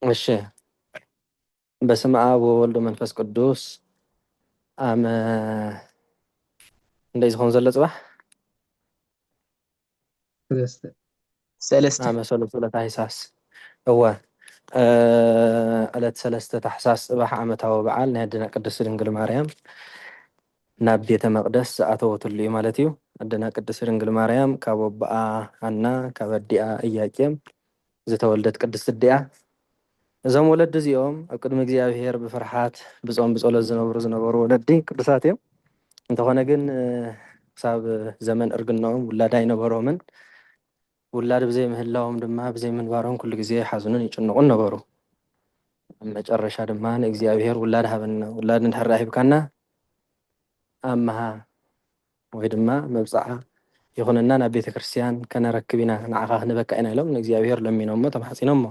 እሺ በስመ አብ ወወልድ መንፈስ ቅዱስ ኣመ እንደይ ዝኸውን ዘሎ ፅባሕ ሰለስተ ኣመ ሰሉስ ዕለት ሃይሳስ እወ ዕለት ሰለስተ ታሕሳስ ፅባሕ ዓመታዊ በዓል ናይ ኣደና ቅድስት ድንግል ማርያም ናብ ቤተ መቅደስ ዝኣተወትሉ እዩ ማለት እዩ። ኣደና ቅድስት ድንግል ማርያም ካብ ኣቦኣ ሃና ካብ ኣዲኣ እያቄም ዝተወልደት ቅድስት ኣዲ'ያ። እዞም ወለዲ እዚኦም ኣብ ቅድሚ እግዚኣብሔር ብፍርሓት ብጾም ብጸሎት ዝነብሩ ዝነበሩ ወለዲ ቅዱሳት እዮም። እንተኾነ ግን ክሳብ ዘመን እርግናኦም ውላድ ኣይነበሮምን። ውላድ ብዘይ ምህላዎም ድማ ብዘይ ምንባሮም ኩሉ ግዜ ይሓዝኑን ይጭነቑን ነበሩ። ኣብ መጨረሻ ድማ ንእግዚኣብሄር ውላድ ሃበና፣ ውላድ እንድሕር ሂብካና ኣምሃ ወይ ድማ መብጽዓ ይኹነና ናብ ቤተ ክርስቲያን ከነረክብ ኢና፣ ንዓኻ ክንበካ ኢና ኢሎም ንእግዚኣብሄር ለሚኖሞ ተማሕጺኖሞ።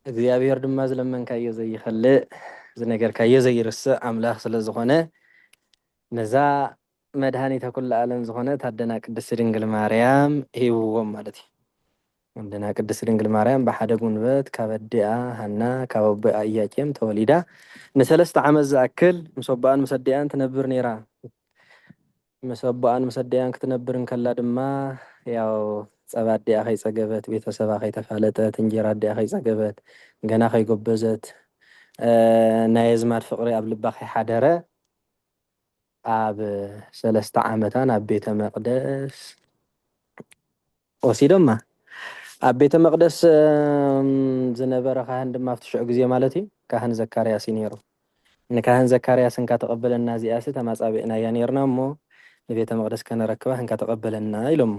እግዚኣብሄር ድማ ዝለመንካዮ ዘይኸልእ ዝነገርካዮ ዘይርስዕ ኣምላኽ ስለ ዝኾነ ነዛ መድሃኒተ ኩሉ ኣለም ዝኾነት ኣደና ቅድስቲ ድንግል ማርያም ሂብዎም ማለት እዩ። ኣደና ቅድስቲ ድንግል ማርያም ብሓደ ጉንበት ካብ ኣዲኣ ሃና ካብ ኣቦኣ ኢያቄም ተወሊዳ ንሰለስተ ዓመት ዝኣክል ምስ ኣቦኣን ምስ ኣዲኣን ትነብር ኔራ። ምስ ኣቦኣን ምስ ኣዲኣን ክትነብር እንከላ ድማ ያው ጸባ ኣዲኣ ከይጸገበት ቤተሰባ ከይተፋለጠት እንጀራ ኣዲኣ ከይጸገበት ገና ከይጎበዘት ናይ ኣዝማድ ፍቅሪ ኣብ ልባ ከይሓደረ ኣብ ሰለስተ ዓመታ ናብ ቤተ መቅደስ ወሲዶማ። ኣብ ቤተ መቅደስ ዝነበረ ካህን ድማ ኣብቲ ሽዑ ግዜ ማለት እዩ ካህን ዘካርያስ እዩ ነይሩ። ንካህን ዘካርያስ እንካ ተቀበለና እዚኣሲ ተማጻቢዕናያ ነይርና እሞ ንቤተ መቅደስ ከነረክባ እንካ ተቀበለና ኢሎሞ።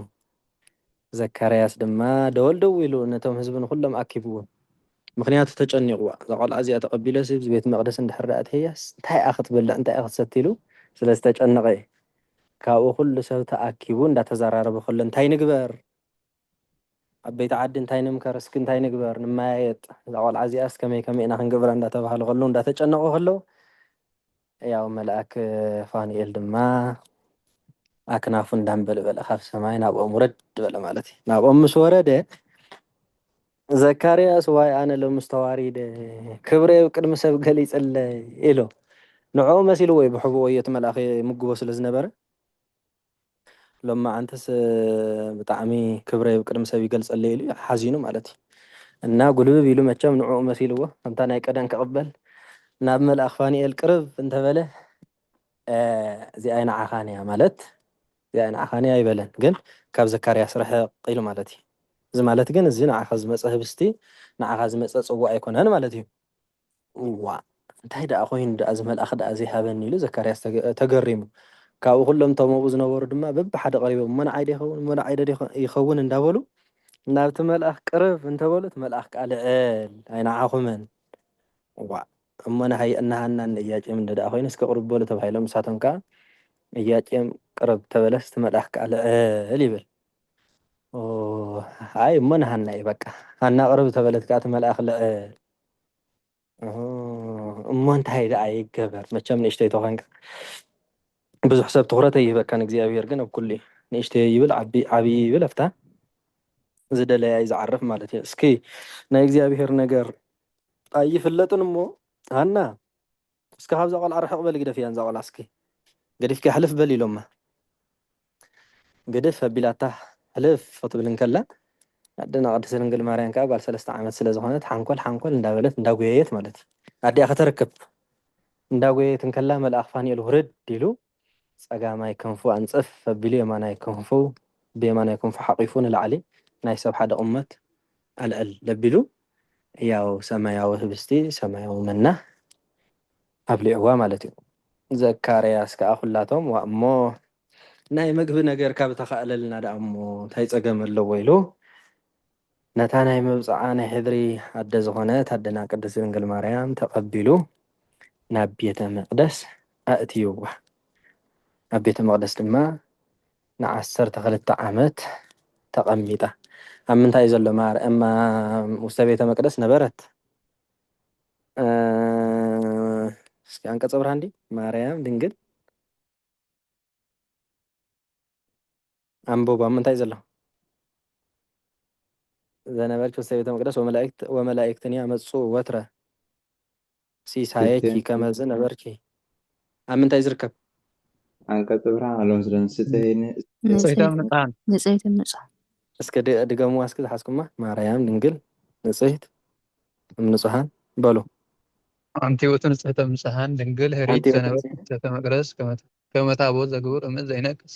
ዘካርያስ ድማ ደወል ደዊሉ ነቶም ህዝቢ ንኹሎም ኣኪብዎም ምኽንያቱ ተጨኒቑዋ እዛ ቆልዓ እዚኣ ተቐቢለሲ ኣብዚ ቤት መቕደስ እንድሕር ደኣ ኣእተያስ እንታይ እያ ክትበልዕ እንታይ እያ ክትሰቲ ኢሉ ስለ ዝተጨነቐ እዩ ካብኡ ኩሉ ሰብ ተኣኪቡ እንዳተዘራረበ ከሎ እንታይ ንግበር ዓበይቲ ዓዲ እንታይ ንምከር እስኪ እንታይ ንግበር ንመያየጥ እዛ ቆልዓ እዚኣስ ከመይ ከመይ ኢና ክንገብራ እንዳተባሃለ ከሎ እንዳተጨነቑ ከለው ሕያው መልኣክ ፋኑኤል ድማ ኣክናፉ እንዳንበልበለ ካብ ሰማይ ናብኦም ውረድ በለ ማለት እዩ። ናብኦም ምስ ወረደ ዘካርያስ ዋይ ኣነ ሎምስ ተዋሪደ ክብረይ ኣብ ቅድሚ ሰብ ገሊጸለይ ኢሉ። ንዕኡ መሲልዎ እዩ ብሕቡእ ወዮ እቲ መልኣኽ ይምግቦ ስለ ዝነበረ። ሎማዓንትስ ብጣዕሚ ክብረይ ብ ቅድሚ ሰብ ይገልጸለይ ኢሉ ሓዚኑ ማለት እዩ እና ጉልብብ ኢሉ መቸም ንዕኡ መሲልዎ ከምታ ናይ ቀደም ክቅበል ናብ መልኣክ ፋኒኤል ቅርብ እንተበለ እዚኣይ ንዓካን እያ ማለት እዚኣይ ንዓካን እያ ኣይበለን ግን ካብ ዘካርያስ ርሕቅ ኢሉ ማለት እዩ እዚ ማለት ግን እዚ ንዓካ ዝመጸ ህብስቲ ንዓካ ዝመጸ ጽዋእ ኣይኮነን ማለት እዩ። እዋእ! እንታይ ደኣ ዀይኑ ደኣ እዚ መልኣኽ ደኣ ዘይሃበኒ? ኢሉ ዘካርያስ ተገሪሙ። ካብኡ ኵሎም እቶም ኣብኡ ዝነበሩ ድማ በብሓደ ቀሪቦም፣ እሞ ንዓይዶ ይኸውን? እሞ ንዓይዶ ይኸውን? እንዳበሉ ናብቲ መልኣኽ ቅርብ እንተ በሉ፣ እቲ መልኣኽ ከኣ ልዕል፣ ኣይንዓኹምን። እዋእ! እሞ ንሃየ እነ ሃናን ንእያቄምን እንተ ደኣ ዀይኑ፣ እስከ ቅርብ በሉ ተባሂሎም፣ ንሳቶም ከኣ እያቄም ቅርብ እንተ በለስ፣ እቲ መልኣኽ ከኣ ልዕል ይብል። ኦህ! ኣይ እሞ ንሃና እዩ በቃ። ሃና ቅርብ እንተ በለት ከኣ እቲ መልኣኽ ልዕል። እሞ እንታይ ደኣ ይገበር መቸም ንእሽተይ ተኾንካ ብዙሕ ሰብ ትኹረት ኣይህበካን እግዚኣብሄር ግን ኣብ ኩሉ እዩ ንእሽተይ ይብል ዓብዪ ይብል ኣብታ ዝደለያ እዩ ዝዓርፍ ማለት እዩ እስኪ ናይ እግዚኣብሄር ነገር ኣይፍለጥን እሞ ሃና እስከ ካብዛ ቆልዓ ርሕቅ በሊ ግደፍያ ንዛ ቆልዓ እስኪ ገዲፍክያ ሕልፍ በሊ ኢሎማ ግድፍ ኣቢላታ ሕልፍ ክትብል እንከላ ኣደና ቅድስት ድንግል ማርያም ከኣ ጓል ሰለስተ ዓመት ስለ ዝኾነት ሓንኮል ሓንኮል እንዳበለት እንዳጎየየት ማለት ኣዲኣ ከተርክብ እንዳጎየየት እንከላ መልኣኽ ፋኑኤል ውርድ ኢሉ ጸጋማይ ክንፉ ኣንጽፍ ኣቢሉ የማናይ ክንፉ ብየማናይ ክንፉ ሓቚፉ ንላዕሊ ናይ ሰብ ሓደ ቑመት ኣልዕል ኣቢሉ ሕያው ሰማያዊ ህብስቲ፣ ሰማያዊ መና፣ ኣብሊዕዋ ማለት እዩ። ዘካርያስ ከኣ ኵላቶም ዋእ እሞ ናይ ምግቢ ነገር ካብ እተኻእለልና ደኣ እሞ እንታይ ጸገም ኣለዎ ኢሉ ነታ ናይ መብጽዓ ናይ ሕድሪ ኣደ ዝኾነት ኣደና ቅድስት ድንግል ማርያም ተቐቢሉ ናብ ቤተ መቕደስ ኣእትይዋ። ኣብ ቤተ መቕደስ ድማ ንዓሰርተ ክልተ ዓመት ተቐሚጣ። ኣብ ምንታይ ዘሎ ማር እማ ውስተ ቤተ መቅደስ ነበረት እስኪ አንቀጸ ብርሃን ዲ ማርያም ድንግል ኣንብብ ኣብ ምንታይ ዘሎ ዘነበልኪ ምስተ ቤተ መቅደስ ወመላእክት ወመላእክትን ያመጹ ወትረ ሲሳየኪ ከመዝ ነበርኪ ኣብ ምንታይ ዝርከብ ኣንቀጽ ብርሃን ኣሎ ምስለን ስተይን ንጽሕቶም ንጽሃን ንጽሕትን ንጹሃን እስከ ድ- ድገሙዋ እስኪ ዝሓዝኩማ ማርያም ድንግል ንጽሕት እም ንጹሃን በሉ ኣንቲ ውእቱ ንጽሕቶም ንጽሃን ድንግል ኣንቲ ህሪት ውእቱ ዘነበልኪ ንጽሕተ መቅደስ ከመ- ከመ ታቦት ዘግብር እምዝ ዘይነቅስ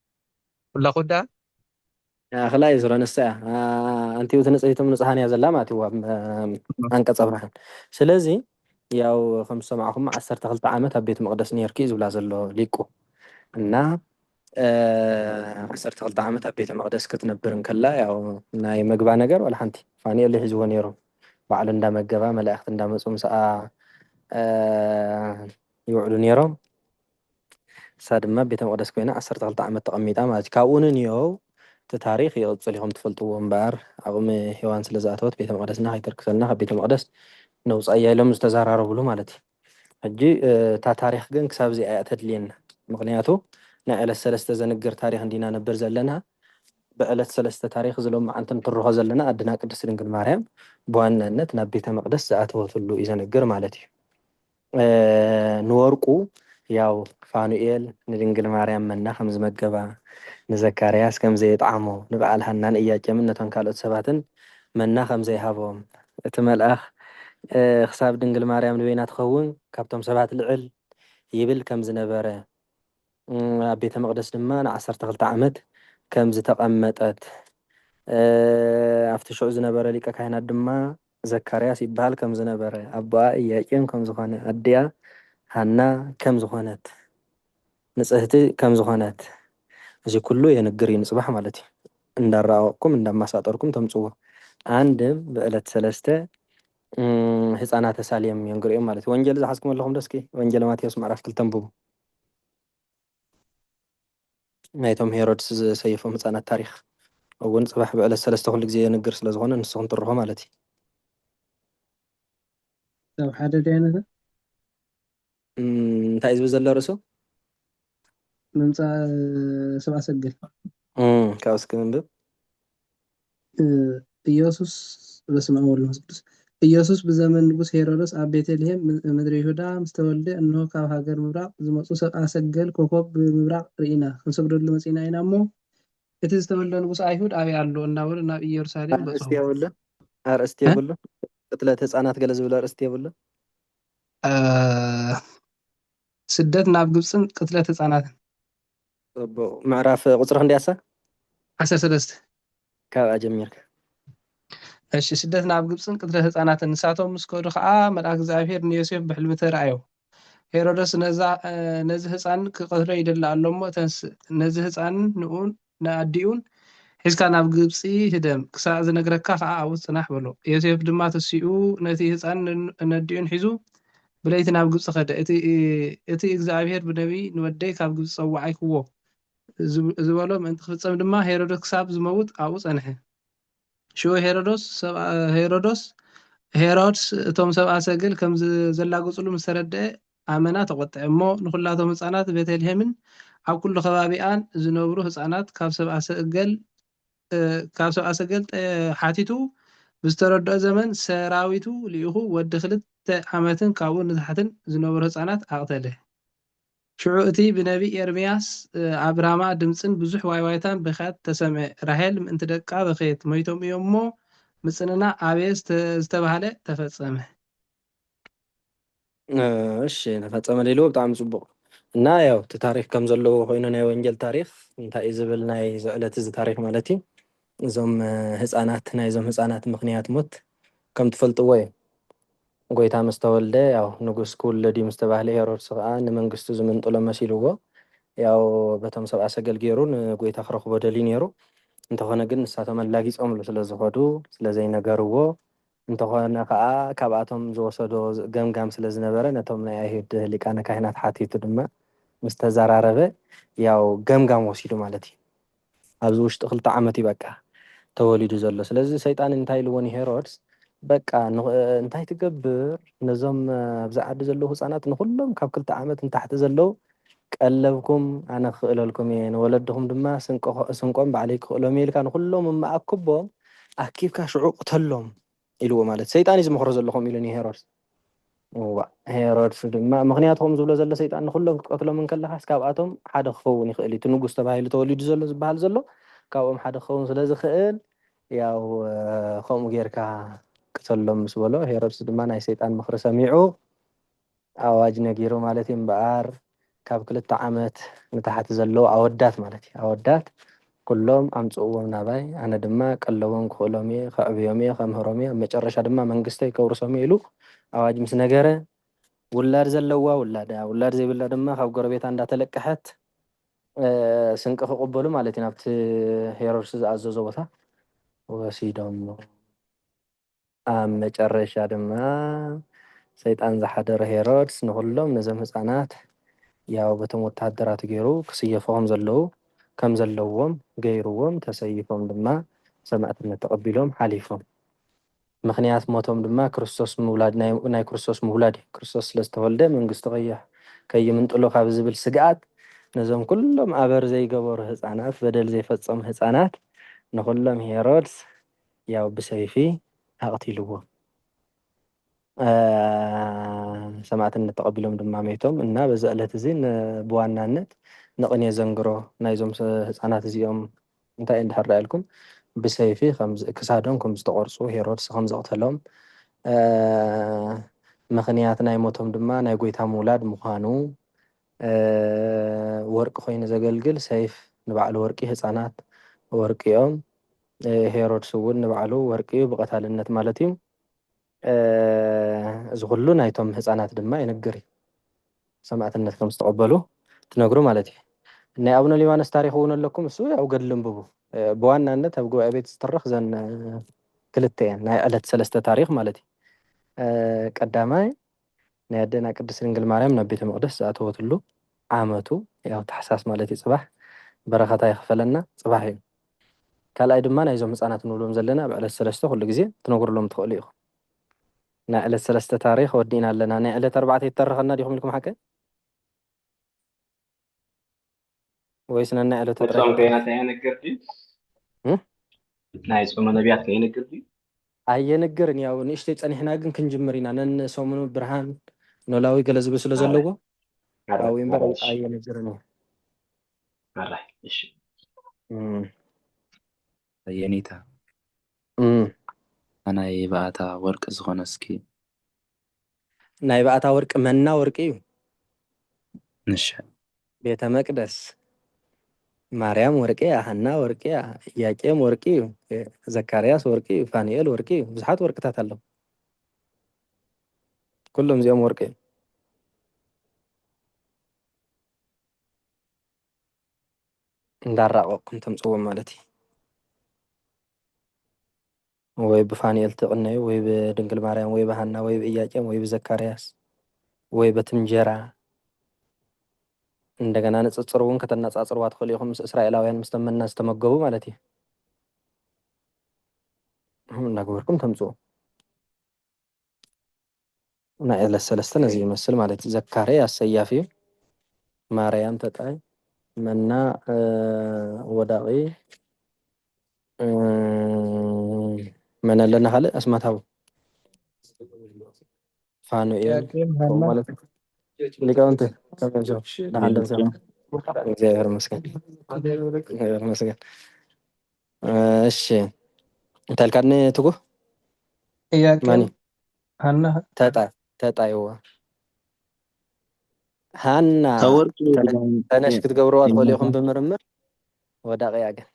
ኩላኹ ደኣ። ኣክላይ ሱረ ንሳ እያ ኣንቲኡ እቲ ንጽህቲ እም ንጹሃን እያ ዘላ ማለት እዩ ኣብ ኣንቀጸ ብርሃን ስለዚ ያው ከም ዝሰማዕኹሞ ዓሰርተ ክልተ ዓመት ኣብ ቤት መቅደስ ኔርኪ እዩ ዝብላ ዘሎ ሊቁ እና ዓሰርተ ክልተ ዓመት ኣብ ቤተ መቅደስ ክትነብር እንከላ ያው ናይ መግባ ነገር ዋላ ሓንቲ ፋኑኤል ይሕዝዎ ኔሩ ባዕሉ እንዳመገባ መላእክት እንዳመጹ ምስኣ ይውዕሉ ኔሮም ንሳ ድማ ኣብ ቤተ መቕደስ ኰይና ዓሰርተ ክልተ ዓመት ተቐሚጣ ማለት እዩ። ካብኡ ንንዮው እቲ ታሪኽ ይቕጽል እዩ ከም ትፈልጥዎ። እምበኣር ዓቕሚ ሄዋን ስለ ዝኣተወት ቤተ መቕደስና ከይተርክሰልና ካብ ቤተ መቕደስ ነውጽኣያ ኢሎም ዝተዘራረብሉ ማለት እዩ። ሕጂ እታ ታሪኽ ግን ክሳብ እዚኣ እያ ተድልየና ምኽንያቱ ናይ ዕለት ሰለስተ ዘንግር ታሪኽ እንዲና ነብር ዘለና። ብዕለት ሰለስተ ታሪኽ እዚ ሎምዓንቲ ንትርኾ ዘለና ኣድና ቅድስቲ ድንግል ማርያም ብዋናነት ናብ ቤተ መቕደስ ዝኣተወትሉ እዩ ዘንግር ማለት እዩ። ንወርቁ ያው ፋኑኤል ንድንግል ማርያም መና ከም ዝመገባ፣ ንዘካርያስ ከም ዘየጥዓሞ፣ ንበዓል ሃናን እያቄምን ነቶም ካልኦት ሰባትን መና ከም ዘይሃቦም፣ እቲ መልኣኽ ክሳብ ድንግል ማርያም ንበይና ትኸውን ካብቶም ሰባት ልዕል ይብል ከም ዝነበረ፣ ኣብ ቤተ መቕደስ ድማ ንዓሰርተ ክልተ ዓመት ከም ዝተቐመጠት፣ ኣብቲ ሽዑ ዝነበረ ሊቀ ካህናት ድማ ዘካርያስ ይበሃል ከም ዝነበረ፣ ኣቦኣ ኢያቄም ከም ዝዀነ፣ ኣዲኣ ሃና ከም ዝዀነት፣ ንጽህቲ ከም ዝዀነት፣ እዚ ኵሉ የንግር እዩ። ንጽባሕ ማለት እዩ። እንዳራቐቕኩም እንዳማሳጠርኩም ተምጽዎ። ኣንድም ብዕለት ሰለስተ ህጻናተ ሳሌም የንግር እዮም ማለት እዩ። ወንጌል ዝሓዝኩም ኣለኹም ዶ እስኪ ወንጌለ ማቴዎስ ምዕራፍ ክልተ ኣንብቡ። ናይቶም ሄሮድስ ዝሰየፎም ህጻናት ታሪኽ እውን ጽባሕ ብዕለት ሰለስተ ኩሉ ግዜ የንግር ስለ ዝኾነ ንስኹም ትርኹ ማለት እዩ። ክሳብ ሓደ ድያ ነታ እም፣ እንታይ እዩ ዝብል ዘሎ ርእሱ? ምምጻእ ሰብኣ ሰገል። እም፣ ካብኡ እስኪ ንንብብ። ኢየሱስ በስመ አብ ወወልድ ወመንፈስ ቅዱስ ኢየሱስ ብዘመን ንጉሥ ሄሮድስ ኣብ ቤተልሔም ምድሪ ይሁዳ ምስ ተወልደ እንሆ ካብ ሃገር ምብራቕ ዝመጹ ሰብኣ ሰገል ኮኾብ ብምብራቕ ርኢና ክንሰግደሉ መጺእና ኢና እሞ እቲ ዝተወልደ ንጉስ ኣይሁድ ኣበይ ኣሎ እናበሉ ናብ ኢየሩሳሌም በጽሑ። ኣርእስቲ የብሉን ኣርእስቲ የብሉን ቅትለት ህፃናት ገለ ዝብል ኣርእስቲ የብሉን ስደት ናብ ግብፅን ቅትለት ህፃናትን ጽቡቕ ምዕራፍ ቁጽሪ ክንደይ ኣሳ? ዓሰርተ ሰለስተ። ካብኣ ጀሚርካ። እሺ ስደት ናብ ግብጽን ቅትለት ህጻናትን ንሳቶም ምስ ከዱ ከኣ መልኣክ እግዚኣብሄር ንዮሴፍ ብሕልሚ ተራእዮ ሄሮደስ ነዛ ነዚ ህጻን ክቀትሎ ይደሊ ኣሎ እሞ ተንስእ ነዚ ህጻንን ንኡን ንኣዲኡን ሒዝካ ናብ ግብጺ ህደም ክሳዕ ዝነግረካ ከኣ ኣብኡ ጽናሕ በሎ ዮሴፍ ድማ ተሲኡ ነቲ ህጻን ነዲኡን ሒዙ ብለይቲ ናብ ግብጺ ከደ። እቲ እግዚኣብሄር ብነብዪ ንወደይ ካብ ግብጺ ጸዋዓይኩዎ ዝበሎ ምእንቲ ክፍጸም ድማ ሄሮዶስ ክሳብ ዝመውት ኣብኡ ጸንሐ። ሽዑ ሄሮዶስ፣ Herods፣ እቶም ሰብኣ ሰገል ከም ዘላግጹሉ ምስ ተረድኤ ኣመና ተቖጥዔ እሞ ንኹላቶም ህጻናት ቤተልሄምን ኣብ ኩሉ ከባቢኣን ዝነብሩ ህጻናት ካብ ሰብኣ ሰገል ካብ ሰብኣ ሰገል ሓቲቱ ብዝተረድኦ ዘመን ሰራዊቱ ልኢኹ ወዲ ክልተ ዓመትን ካብኡ ንታሕትን ዝነበሩ ህጻናት ኣቕተለ። ሽዑ እቲ ብነብዪ ኤርምያስ ኣብ ራማ ድምጽን ብዙሕ ዋይዋይታን ብኽያት ተሰምዐ። ራሄል ምእንቲ ደቃ በኸየት፣ ሞይቶም እዮም እሞ ምጽንና ኣበየ ዝተባህለ ተፈጸመ። እሺ ተፈፀመ ሌሎ ብጣዕሚ ፅቡቕ እና ያው እቲ ታሪክ ከም ዘለዎ ኮይኑ ናይ ወንጌል ታሪክ እንታይ እዩ ዝብል ናይ ዝዕለት እዚ ታሪክ ማለት እዩ እዞም ህፃናት ናይዞም ህፃናት ምክንያት ሞት ከም ትፈልጥዎ እዩ ጎይታ ምስ ተወልደ ያው ንጉስ ክውለድ እዩ ምስ ተባህለ ሄሮድስ ከዓ ንመንግስቱ ዝምንጥሎ መሲልዎ ያው በቶም ሰብኣ ሰገል ገይሩ ንጎይታ ክረክቦ ደልዩ ነይሩ እንተኾነ ግን ንሳቶም ኣላጊፆምሉ ስለዝኸዱ ስለዘይነገርዎ እንተኾነ ከኣ ካብኣቶም ዝወሰዶ ገምጋም ስለ ዝነበረ ነቶም ናይ ኣይሁድ ሊቃነ ካህናት ሓቲቱ ድማ ምስ ተዘራረበ ያው ገምጋም ወሲዱ ማለት እዩ። ኣብዚ ውሽጢ ክልተ ዓመት እዩ በቃ ተወሊዱ ዘሎ። ስለዚ ሰይጣን እንታይ ኢልዎ ንሄሮድስ በቃ እንታይ ትገብር ነዞም ኣብዚ ዓዲ ዘለዉ ህጻናት ንኹሎም ካብ ክልተ ዓመት ንታሕቲ ዘለዉ ቀለብኩም ኣነ ክኽእለልኩም እየ፣ ንወለድኹም ድማ ስንቆም ባዕለይ ክኽእሎም እየ ኢልካ ንኹሎም እሞ ኣክቦም፣ ኣኪብካ ሽዑ ቅተሎም ኢልዎ ማለት ሰይጣን እዩ ዝመኽሮ ዘሎ ከምኡ ኢሉ ንሄሮድስ እዋእ ሄሮድስ ድማ ምክንያቱ ከም ዝብሎ ዘሎ ሰይጣን ንኩሎም ክትቀትሎም እንከለካስ ካብኣቶም ሓደ ክኸውን ይኽእል እዩ እቲ ንጉስ ተባሂሉ ተወሊዱ ዘሎ ዝበሃል ዘሎ ካብኦም ሓደ ክኸውን ስለ ዝኽእል ያው ከምኡ ጌርካ ቅተሎም ምስ በሎ ሄሮድስ ድማ ናይ ሰይጣን ምኽሪ ሰሚዑ ኣዋጅ ነጊሩ ማለት እዩ እምበኣር ካብ ክልተ ዓመት ንታሕቲ ዘለዉ ኣወዳት ማለት እዩ ኣወዳት ኩሎም ኣምጽእዎም ናባይ ኣነ ድማ ቀለቦም ክኽእሎም እየ ከዕብዮም እየ ከምህሮም እየ ኣብ መጨረሻ ድማ መንግስተይ ከውርሶም እየ ኢሉ ኣዋጅ ምስ ነገረ ውላድ ዘለዋ ውላዳ ውላድ ዘይብላ ድማ ካብ ጎረቤታ እንዳተለቀሐት ስንቂ ክቕበሉ ማለት እዩ ናብቲ ሄሮድስ ዝኣዘዞ ቦታ ወሲዶም ኣብ መጨረሻ ድማ ሰይጣን ዝሓደሮ ሄሮድስ ንኹሎም ነዞም ህጻናት ያው በቶም ወተሃደራቱ ገይሩ ክስየፉ ከም ዘለዉ ከም ዘለዎም ገይርዎም ተሰይፎም ድማ ሰማእትነት ተቐቢሎም ሓሊፎም። ምኽንያት ሞቶም ድማ ክርስቶስ ምውላድ ናይ ናይ ክርስቶስ ምውላድ እዩ። ክርስቶስ ስለ ዝተወልደ መንግስቱ ከይ ከይምንጥሎ ካብ ዝብል ስግኣት ነዞም ኩሎም ኣበር ዘይገበሩ ህጻናት በደል ዘይፈጸሙ ህጻናት ንኹሎም ሄሮድስ ያው ብሰይፊ ኣቕቲልዎ ሰማእትነት ተቐቢሎም ድማ መይቶም እና በዚ ዕለት እዚ ብዋናነት ንቕኔ ዘንግሮ ናይዞም ህፃናት እዚኦም እንታይ እንድሕር ዳኢልኩም ብሰይፊ ክሳዶም ከም ዝተቖርፁ ሄሮድስ ከም ዘቕተሎም ምኽንያት ናይ ሞቶም ድማ ናይ ጎይታ ምውላድ ምዃኑ ወርቂ ኮይኑ ዘገልግል ሰይፍ ንባዕሉ ወርቂ ህጻናት ወርቂ ኦም ሄሮድስ እውን ንባዕሉ ወርቂ እዩ ብቐታልነት ማለት እዩ እዚ ኩሉ ናይቶም ህጻናት ድማ ይንግር እዩ ሰማእትነት ከም ዝተቐበሉ ትነግሩ ማለት እዩ ናይ ኣቡነ ሊባኖስ ታሪክ እውን ኣለኩም እሱ ያው ገድሊ እንብቡ ብዋናነት ኣብ ጉባኤ ቤት ዝትረኽ ዘን ክልተ እየን ናይ ዕለት ሰለስተ ታሪክ ማለት እዩ ቀዳማይ ናይ ኣደና ቅድስት ድንግል ማርያም ናብ ቤተ መቅደስ ዝኣተወትሉ ዓመቱ ያው ታሕሳስ ማለት እዩ ጽባሕ በረከታ ይክፈለና ጽባሕ እዩ ካልኣይ ድማ ናይዞም ህጻናት ንብሎም ዘለና ኣብ ዕለት ሰለስተ ኩሉ ግዜ ክትነግሩሎም ትክእሉ ኢኩም ናይ ዕለት ሰለስተ ታሪክ ወዲእና ኣለና ናይ ዕለት ኣርባዕተ ይተረከና ዲኩም ኢልኩም ሓቀይ ወይስ ነናይ ዕለቱ ናይ ጥራይ ጾም ክኸውን? ከይናት ኣይነግር ድዩ እ? ናይ ጾመ ነቢያት ከይነግር ድዩ ኣየንግርን ያው ንእሽተይ ጸኒሕና ግን ክንጅምር ኢና ነንሰሙኑ ብርሃን ኖላዊ ገለ ዝብል ስለ ኣረ ዘለዎ ኣረ ኣብኡ እምበር ኣረ እሺ ኣየንግርን እዩ ኣረ እሺ እም። የኔታ ኣታ ናይ ባኣታ ወርቂ ዝኮነ እስኪ። ናይ ባኣታ ወርቂ መና ወርቂ እዩ። ንሸ። ቤተ መቅደስ ማርያም ወርቂ እያ ሃና ወርቂ እያ እያቄም ወርቂ እዩ ዘካርያስ ወርቂ እዩ ፋኑኤል ወርቂ እዩ ብዙሓት ወርቅታት ኣለው ኩሎም እዚኦም ወርቂ እዩ እንዳራቀቅኩም ተምጽዎም ማለት እዩ። ወይ ብፋኑኤል ትቅነዩ ወይ ብድንግል ማርያም ወይ ብሃና ወይ ብእያቄም ወይ ብዘካርያስ ወይ በቲ እንጀራ እንደገና ንጽጽር እውን ከተነጻጽርዋ ትኽእሉ ኢኹም ምስ እስራኤላውያን ምስ ተመና ዝተመገቡ ማለት እዩ እንዳገበርኩም ተምጽኡ ናይ ዕለት ሰለስተ ነዚ ይመስል ማለት እዩ። ዘካርያ ኣሰያፊ እዩ። ማርያም ተጣይ መና ወዳቂ መን ኣለና ካልእ ኣስማታዊ ፋኑኤል ማለት ሊቃውንቲ እግዚኣብሔር ይመስገን። እሺ እንተልካድኒ ትጉህ ጥያቄው ማኒ ሀና ተጣ ተጣይዎ ሃና ተወርቂ ተነ- ድጋሚ ተነሽ የ- ክትገብርዋ ትኽእሉ የመታ ኢኹም ብምርምር ወዳቂ እያ ግን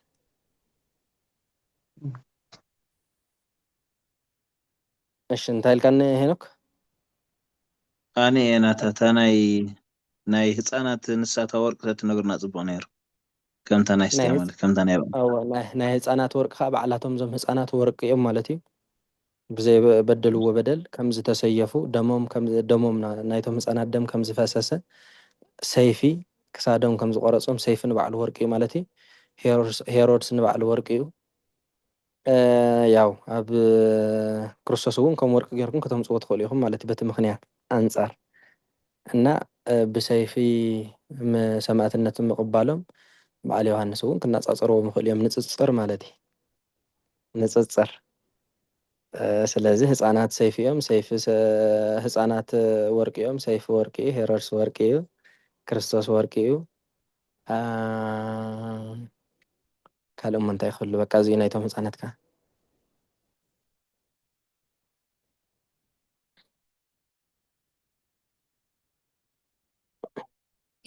እሺ እንታይ ኢልካኒ ሄኖክ ኣነ እየ ናታ እታ ናይ ናይ ህፃናት ንሳ እታ ወርቂ ተትነግርና ፅቡቅ ነይሩ ከምታ ናይ ኣስትያ ናይ ማለት ከምታ ናይ ኣብኣም። ኣወ ናይ ናይ ህጻናት ወርቂ ከኣ ባዕላቶም እዞም ህጻናት ወርቂ እዮም ማለት እዩ። ብዘይ በደልዎ በደል ከም ዝተሰየፉ ደሞም ከም ደሞም ናይቶም ህጻናት ደም ከም ዝፈሰሰ ሰይፊ ክሳዶም ከም ዝቆረጾም ሰይፊ ንባዕሉ ወርቂ እዩ ማለት እዩ። ሄሮድስ ሄሮድስ ንባዕሉ ወርቂ እዩ። ያው ኣብ ክርስቶስ እውን ከም ወርቂ ገርኩም ከተምጽዎ ትክእሉ ኢኩም ማለት በቲ ምክንያት ኣንጻር እና ብሰይፊ ሰማእትነት ምቅባሎም በዓል ዮሃንስ እውን ክናጻጸርዎ ምክእሉ እዮም ንጽጽር ማለት እዩ ንጽጽር ስለዚ ህጻናት ሰይፊ እዮም ሰይፊ ህጻናት ወርቂ እዮም ሰይፊ ወርቂ እዩ ሄሮድስ ወርቂ እዩ ክርስቶስ ወርቂ እዩ ካልእ እሞ እንታይ ክህሉ በቃ እዚ እዩ ናይቶም ህጻናት ከኣ።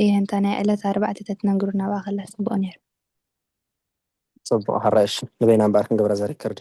እየ እንተ ናይ ዕለት ኣርባዕተ ተትነግሩና ናብኣ ከላ ጽቡቅ ነይሩ። ጽቡቅ ሕራይ እሺ ንበይና እምበኣር ክንገብራ እዛ ሪከርዲ።